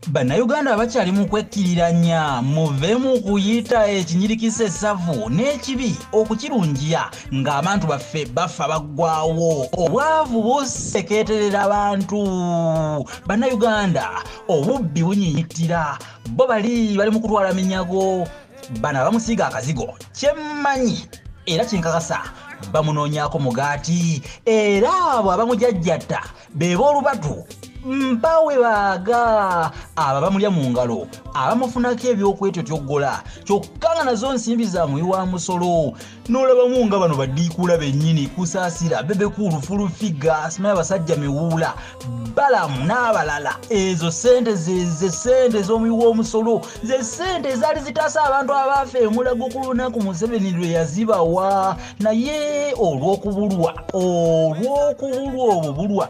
bannayuganda abakyali mu kwekkiriranya muve mu kuyita ekinyirikisa esavu n'ekibi okukirungiya ng'abantu baffe bafa baggwawo obwavu busekeeterera abantu bannayuganda obubbi bunyinyitira bo bali bali mu kutwala minyago bano abamusiiga akazigo kyemmanyi era kinkakasa bamunoonyaako mugaati era abo abamujajjatta beba olubatu mpawe baaga aba bamulya mu ngalo abamufunako ebyokwetyo tyoggola kyokka nga nazo nsimbi za muyi wa musolo n'olabamu nga bano badiikuula bennyini kusaasira bebekuulu fulufiga asimayo abasajja miwuula balamu n'abalala ezo sente zeze sente ez'omuyi w'omusolo ze sente ezaali zitaasa abantu abaafa emulago ku lunaku museveni lwe yazibawa naye olw'okubulwa olw'okubulwa obubulwa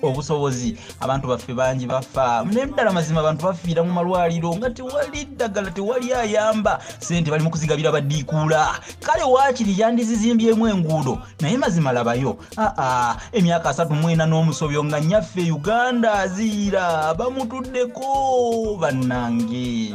obusobozi abantu baffe bangi bafa naye ddala mazima abantu bafiira mu malwaliro nga tewali ddagala tewali ayamba sente bali mu kuzigabira badiikuula kale waakiri yandizizimbyemu enguudo naye mazima labayo aa emyaka asatu mwena n'omusobyo nga nyaffe uganda aziira bamutuddeko bannange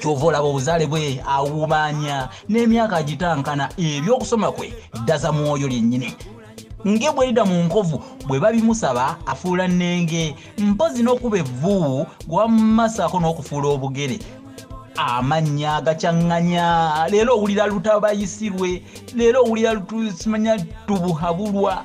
kyova olaba obuzaale bwe awubaanya n'emyaka agitankana ebyokusoma kwe ddaza mwoyo lyennyini nge bwerida mu nkovu bwe babimusaba afuula nnenge mpozi n'okuba evvu gwamumasaako n'okufuula obugere amannya agacaŋŋanya leero owulira lutabayisirwe leero owulira lutusimanya tubuhabulwa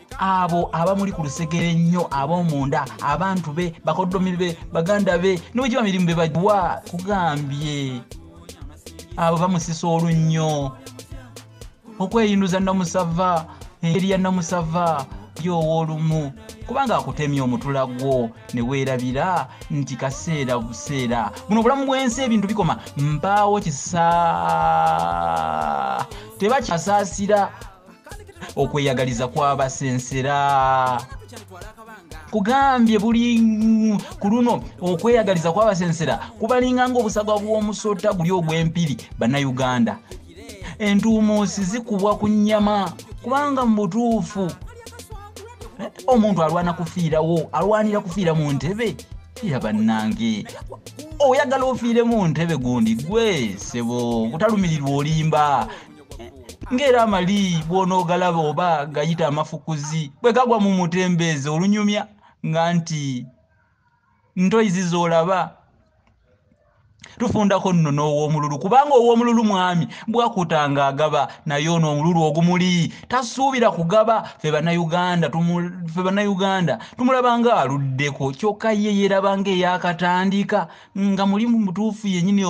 abo abamuli ku lusegere ennyo ab'omunda abantu be bakoddomi be baganda be niwegiba mirimu be bagiwa kugambye abo bamusisa olunnyo okweyinduza namusava engeri ya namusava yoowa olumu kubanga akutemya omutula gwo ne weerabira nti kaseera buseera buno obulamu bw'ensi ebintu bikoma mpaawo kisa tebakyasaasira okweyagaliza kwabasensera kugambye buli ku luno okweyagaliza kwabasensera kubalinga ngaobusagwa bw'omusota guli ogw'empiri bannayuganda entuumuusi zikubwa ku nnyama kubanga mu butuufu eh, omuntu alwana kufiirawo alwanira kufiira mu ntebe ya bannange oyagala ofiire mu ntebe gundi gwe sebo kutalumirirwa olimba ng'era amali bw'onoogalaba oba gayita amafukuzi bwe gagwa mu mutembeezi olunyumya nga nti ntoyizi z'olaba tufundako nno n'ow'omululu kubanga ow'omululu mwami bwakutanga agaba naye ono omululu ogumuli tasuubira kugaba fe bannayuganda fe bannayuganda tumulaba nga aluddeko kyokka ye yeeraba nga eyakatandika nga mulimu mutuufu yennyini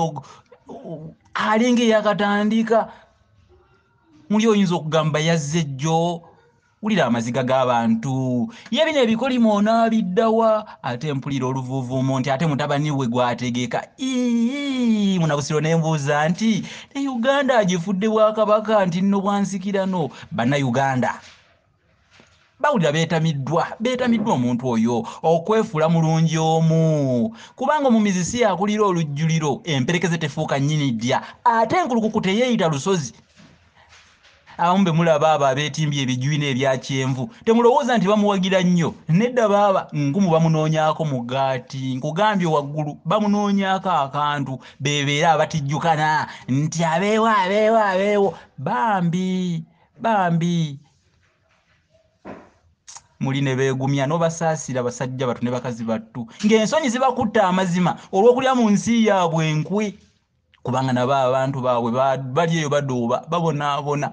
alinga eyakatandika muli oyinza okugamba yazze jjo wulira amaziga g'abantu ye bino ebikolimo onaabiddawa ate mpulira oluvuuvuumo nti ate mutabani we gwategeeka ii munabusiro ne mbuuza nti ne uganda agifudde bwakabaka nti nno bwansikirano bannayuganda bawulira beetamiddwa beetamiddwa omuntu oyo okwefuula mulungi omu kubanga omumizi si yakulira olujjuliro emperekeze tefuuka nnyini ddya ate enkulukuku teyeeyita lusozi abamu be mulaba abo abeetimbye ebijwina ebya kyenvu temulowooza nti bamuwagira nnyo nedda baaba nkumu bamunoonyako mugaati nkugambye waggulu bamunoonyako akantu bebeera abatijjukana nti abeewo abeewo abeewo bambi bambi muli ne beegumya n'obasaasira basajja battu ne bakazi battu ng'ensonyi zibakutta amazima olw'okulya mu nsi yaabwe enkwe kubanga nabo abantu baabwe bali eyo badooba babonaabona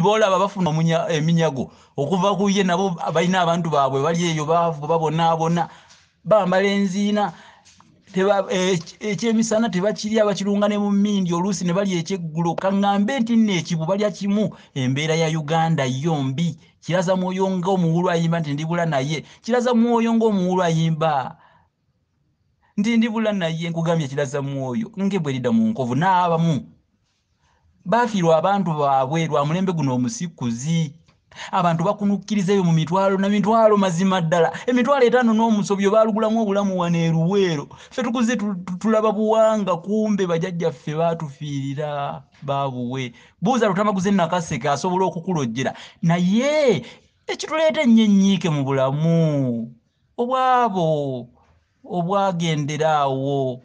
boolaba bafuna eminyago okuva ku ye nabo balina abantu baabwe bali eyo baavu babonaabona bambala enziina eh, ekyemisana tebakirya bakirunga ne mumindi oluusi ne balya ekyeggulo kaŋŋambe nti nno ekibu balya kimu embeera ya uganda yo mbi kiraza mwoyo ngaomuwulu ayimba nti ndibula naye kiraza mwoyo ngaomuwulu ayimba nti ndibula naye nkugambye kiraza mwoyo ngebwerida mu nkovu n'abamu bafiirwa abantu baabwe lwa mulembe guno omusikuzi abantu bakunukkiriza ebyo mu mitwalo na mitwalo mazima ddala emitwalo etaano n'omusobyo baalugulamu obulamu wano eruweero ffe tukuze tulaba buwanga kumbe bajajjaffe baatufiirira baabuwe buuza lutamaguze nakaseke asobola okukulojjera naye ekituleeta ennyo ennyiike mu bulamu obwabo obwagendera awo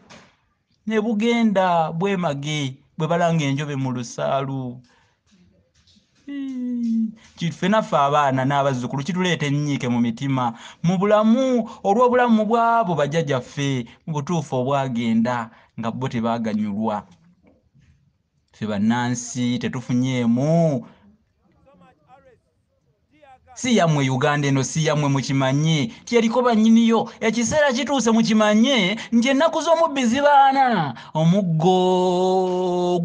ne bugenda bwemage bwe balanga enjobe mu lusaalu kituffe naffe abaana n'abazzukulu kituleeta ennyiike mu mitima mu bulamu olw'obulamu bw'abo bajajaffe mu butuufu obwagenda nga bo tebaganyulwa ffe bannansi tetufunyeemu si yamwe uganda eno si yamwe mukimanye tyeriko banyiniyo ekiseera kituuse mukimanye nti ennaku z'omubbi zibaana omuggo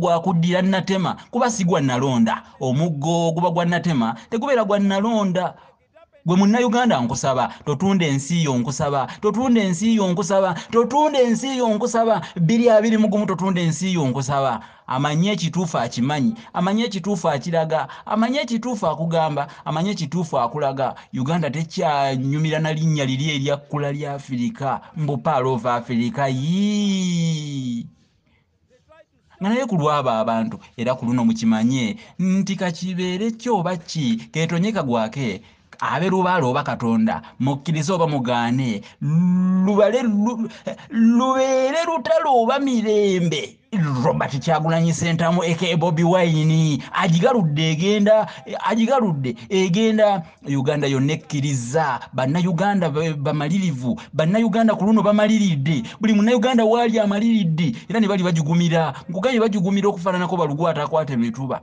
gwakuddira natema kuba si gwa nalonda omuggo guba gwa natema tegubeera gwa nalonda gwe munnayuganda nkusaba totunda ensi yo nkusaba totunda ensi yo nkusaba totunda ensi yo nkusaba biri abiri mugumu totunda ensi yo nkusaba amanyi ekituufu akimanyi amanyi ekituufu akiraga amanyi ekituufu akugamba amanyi ekituufu akulaga uganda tekyanyumira na linnya liri eryakkula lya afirika mbu paalo ova afirika yii nga naye ku lwabo abantu era ku luno mukimanye nti kakibeere kyo oba ki ketonye kagwake abe lubale oba katonda mukkirize oba mugaane lubale lubeere lutalo oba mirembe robert kyagulanyi sentamu eke bobi wayini agigaludde egenda agigaludde egenda uganda yonna ekkiriza bannayuganda bamalirivu bannayuganda ku luno bamaliridde buli munnayuganda waali amaliridde era ne bali bagigumira nkugambye bagigumira okufaananako balugu atakwata emituba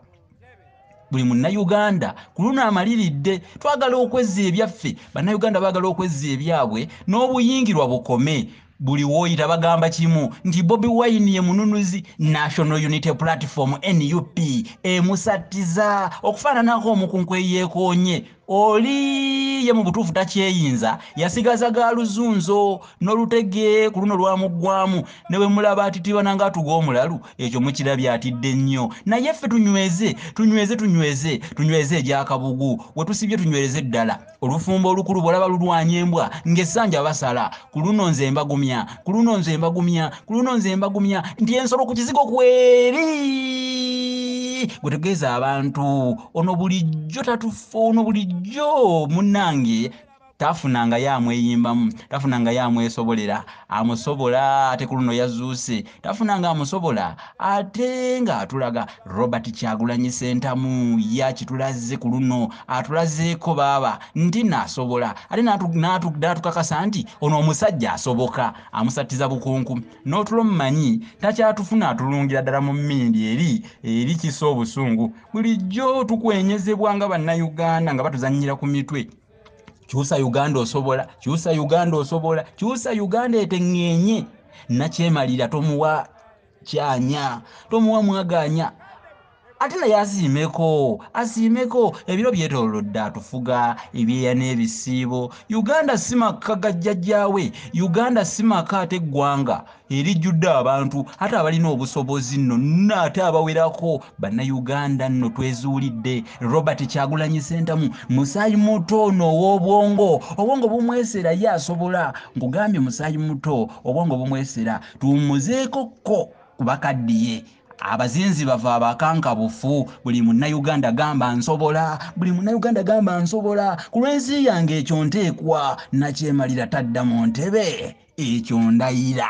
buli munnayuganda ku luno amaliridde twagala okwezza ebyaffe bannayuganda baagala okwezza ebyabwe n'obuyingirwa bukome buli woyita bagamba kimu nti bobi wine ye mununuzi national unity platform nup emusattiza okufaananako omukunku eyeekoonye oli ye mu butuufu takyeyinza yasigaza ga luzunzo n'olutege ku luno lwamuggwamu ne bwe mulaba atitibana ng'atuga omulalu ekyo mukirabye atidde nnyo naye ffe tunyweze tunyweze tunyweze tunyweze egyakabugu we tusibye tunywereze ddala olufumbo olukulu bw'olaba lulwanya embwa ng'essanja basala ku luno nze mbagumya ku luno nze mbagumya ku luno nze mbagumya nti ensolo ku kizigo kweri gwe tegeeza abantu ono bulijjo tatufa ono bulijjo munange tafunanga ye amweyimbamu tafunanga ye amwesobolera amusobola ate ku luno yazuuse tafunanga amusobola ate nga atulaga robert kyagulanyi sentamu yakitulaze ku luno atulazeeko baaba nti nasobola ate natukakasa nti ono omusajja asoboka amusattiza bukunku n'otulo mumanyi takyatufuna atulungira ddala mu mmindi eri eri kisa obusungu bulijjo tukwenyezebwa nga bannayuganda nga batuzannyira ku mitwe kyusa uganda osobola kyusa uganda osobola kyusa uganda eteŋŋeenye nakyemalira tomuwa kyanya tomuwa mwaganya ate naye asiimeko asiimeko ebiro byetolodde atufuga ebyeya n'ebisiibo uganda si makka gajjajjaawe uganda si maka ate eggwanga erijjudde abantu ate abalina obusobozi nno nno ate abawerako bannayuganda nno twezuulidde robert kyagulanyi sentamu musaayi muto ono ow'obwongo obwongo bumwesera ye asobola nkugambye musaayi muto obwongo bumwesera tuwummuzeeko kko ku bakaddiye abazinzi bava abakankabufu buli munnauganda gamba nsobola buli munnauganda gamba nsobola ku lw'ensi yange ekyo nteekwa nakyemalira tadda mu ntebe ekyo ndayira